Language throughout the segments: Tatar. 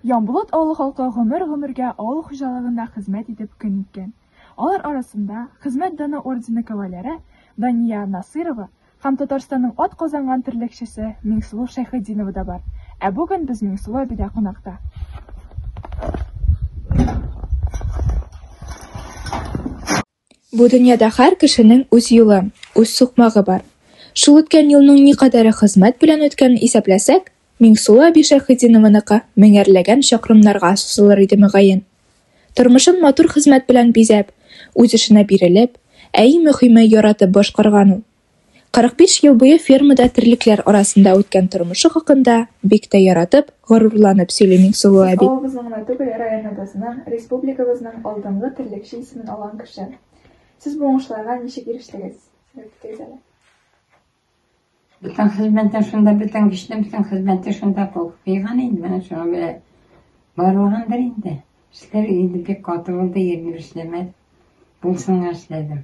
Янбулат авылы халкы гомер-гомергә авыл хуҗалыгында хезмәт итеп көн иткән. Алар арасында Хезмәт даны ордены кавалеры Дания Насыйрова һәм Татарстанның атказанган терлекчесе Миңсылу Шәйхетдинова да бар. Ә бүген без Миңсылу әбидә кунакта. Бу дөньяда һәр кешенең үз юлы, үз сукмагы бар. Шул үткән юлның никадәре хезмәт белән үткәнен исәпләсәк, Миңсылу әби Шәйхетдинованыкы меңәрләгән чакрымнарга сузылыр иде мөгаен. Тормышын матур хезмәт белән бизәп, үз эшенә бирелеп, ә иң мөхиме, яратып башкарган ул. 45 ел буе фермада терлекләр арасында үткән тормышы хакында бик тә яратып, горурланып сөйли Миңсылу әби. Ул авылыбызның гына түгел, районыбызның, республикабызның алдынгы терлекче исемен алган кеше. Сез бу уңышларга ничек ирештегез? Әйтегез әле. Бүтән хезмәттән шунда бүтән кешедән бүтән хезмәттән шунда кыйган инде менә шуңа бирә. Барлыгындыр инде. Эшләр инде бик каты булды, егерме эшләмәд. Булсынга эшләдем.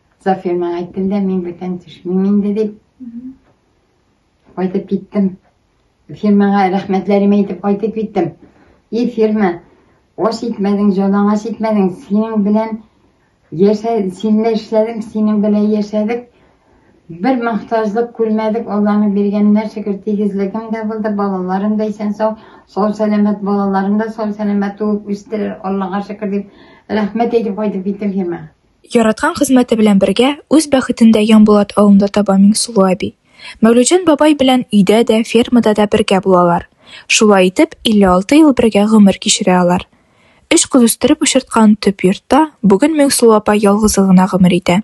Зафирның әйткәндә мин бүтән төшмим инде дип. Кайтып киттем. Фирмага рәхмәтләремә әйтеп кайтып киттем. И фирма, аш итмәдең, җанаң аш итмәдең, синең белән яшә, синле эшләдем, синең белән яшәдек. Бер мохтажлык күрмәдек, Алланың биргәненә шөкер, тигезлегем дә булды, балаларым да исән сау, сау сәламәт балаларым да сау сәламәт туып үстеләр, Аллага шөкер дип, рәхмәт әйтеп кайтып киттем фирмага. Яраткан хезмәте белән бергә үз бәхетен дә Янбулат авылында таба Миңсылу әби. Мәүлүҗан бабай белән өйдә дә, фермада да бергә булалар. Шулай итеп, 56 ел бергә гомер кичерә алар. Өч кыз үстереп очырткан төп йортта бүген Миңсылу апа ялгызы гына гомер итә.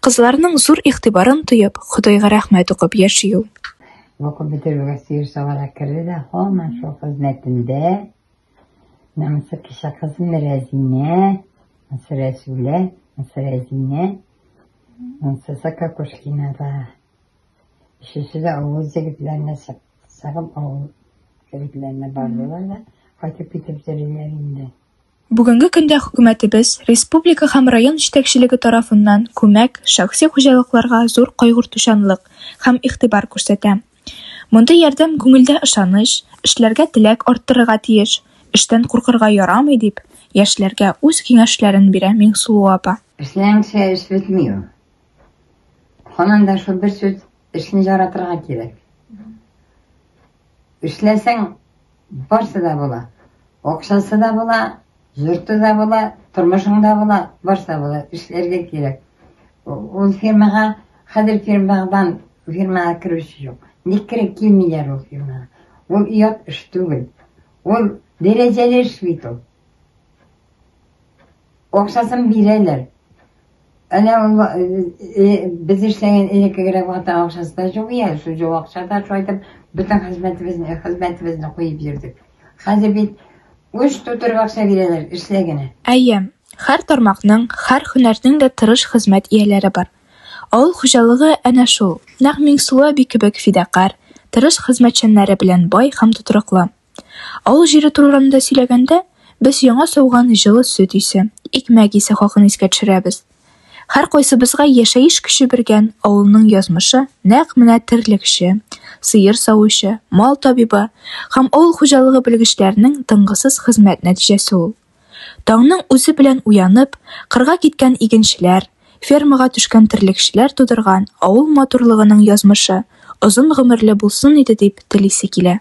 Кызларының зур игътибарын тоеп, Ходайга рәхмәт укып яши ул. Укып бетерүгә Сыер Савана керде дә һаман шул хезмәтендә. Намысы кеше кызын рәзинә, намысы рәсүлә, намысы рәзинә, намысы сакакушкинада. Өчесе дә авыл егетләренә сагып авыл егетләренә бардылар да кайтып китеп йөриләр инде. Бүгенге көндә хөкүмәтебез, республика һәм район җитәкчелеге тарафыннан күмәк, шәхси хуҗалыкларга зур кайгыртучанлык һәм игътибар күрсәтә. Мондый ярдәм күңелдә ышаныч, эшләргә теләк арттырырга тиеш, эштән куркырга ярамый, дип, яшьләргә үз киңәшләрен бирә Миңсылу апа. Эшләмичә эш бетми ул. Һаман да шул бер сүз, эшне яратырга кирәк. Эшләсәң, Барсы да була. Акчасы да була, йорты да була, тормышың да була, барсы да була. Эшләргә кирәк. Ул фирмага, хәзер фирмадан фирмага керүче юк. Ник кереп килмиләр ул фирмага? Ул ят эш түгел. Ул дәрәҗәле эш бит ул. Акчасын бирәләр. Әнә без эшләгән элеккегрәк вакытта акчасы да юк иде, шул җо акчада шайтып бөтен хезмәтебезне, хезмәтебезне куеп йөрдек. Хәзер бит үз тутырып акча бирәләр, эшлә генә. Әйе, һәр тармакның, һәр һөнәрнең дә тырыш хезмәт ияләре бар. Авыл хуҗалыгы әнә шул, нәкъ Миңсылу әби кебек фидакарь, тырыш хезмәтчәннәре белән бай һәм тотрыклы. Авыл җире турында сөйләгәндә, без яңа сауган җылы сөт исе, икмәк исе хакын искә төшерәбез. Һәркайсыбызга яшәеш көче биргән авылның язмышы нәкъ менә терлекче, сыер савучы, мал табибы һәм авыл хуҗалыгы белгечләренең тынгысыз хезмәт нәтиҗәсе ул. Таңның үзе белән уянып, кырга киткән игенчеләр, фермага төшкән терлекчеләр тудырган авыл матурлыгының язмышы озын гомерле булсын иде дип телисе килә.